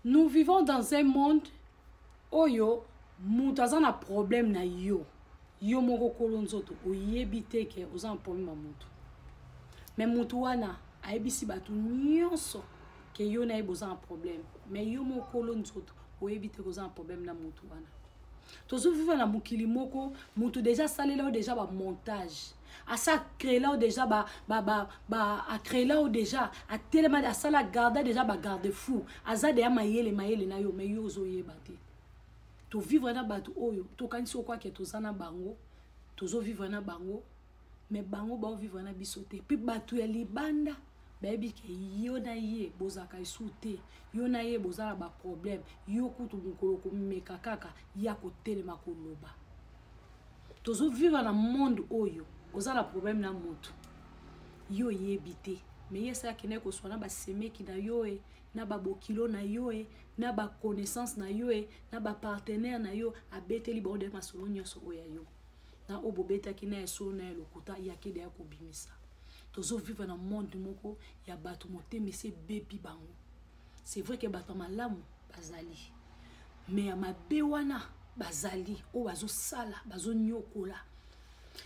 nous vivons dans un monde oyo moto aza na problème na yo yo moko kolo nzoto oyebi te ke oza na problème ya moto me moto wana ayebisi bato nyonso ke yo na ye boza na problème me yo moko kolo nzoto oyebi te koza na problème na moto wana tozoviva na mokili moko moto deja asalela yo deja bamontage asa créelao déjà ba, ba, ba, ba acréelao déjà atelema asala garda déjà ba garde fou aza deya mayele mayele na yo mais yo ozoyeba te tovivre na bato oyo tokanisi okwake toza na bango tozovivre na bango mais bango baovivre na biso te mpe bato ya libanda bayebi ke yo na ye bozalaka esu te yo na ye boza na baproblème yo kutu mokolo komeka kaka ya kotelema koloba tozo vivre na monde oyo oza na problème na moto yo oyebi te me ye esi akendaki koswa na basemeki na yo e na babokilo na yo e na baconnaissance na yo e na bapartenaire na yo abeteli bango de masolo nyonso oyo ya yo na oyo bobetaki na ya solo na ya lokuta yakede ya kobimisa tozo vivre na monde moko ya bato motema esi ebebi bango c'est vrai que bato ya malamu bazali me ya mabe wana bazali oyo bazosala bazonyokola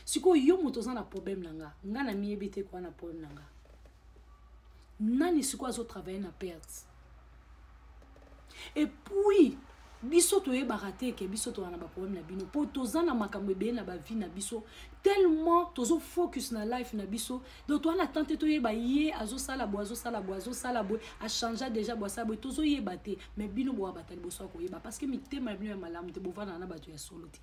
sikoyo yo moto oza na problème na nga nga na miyebi te koa na problème na nga nani sikoyo azotravaille na perte epuis biso toyebaka te eke biso toza na baproblème na bino mpo toza na makambo ebele na bavie na biso tellement tozo focus na life na biso donc toza na temps te toyeba ye azosala boye azosala boye azosala boye achangea déjà boye asala boye tozoyeba te mais bino boabata liboso ya koyeba parce que mitema ya bino ya malamu te bovandaka na bato ya solo te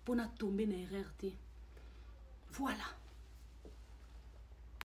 mpo na tombe na erreur te voilà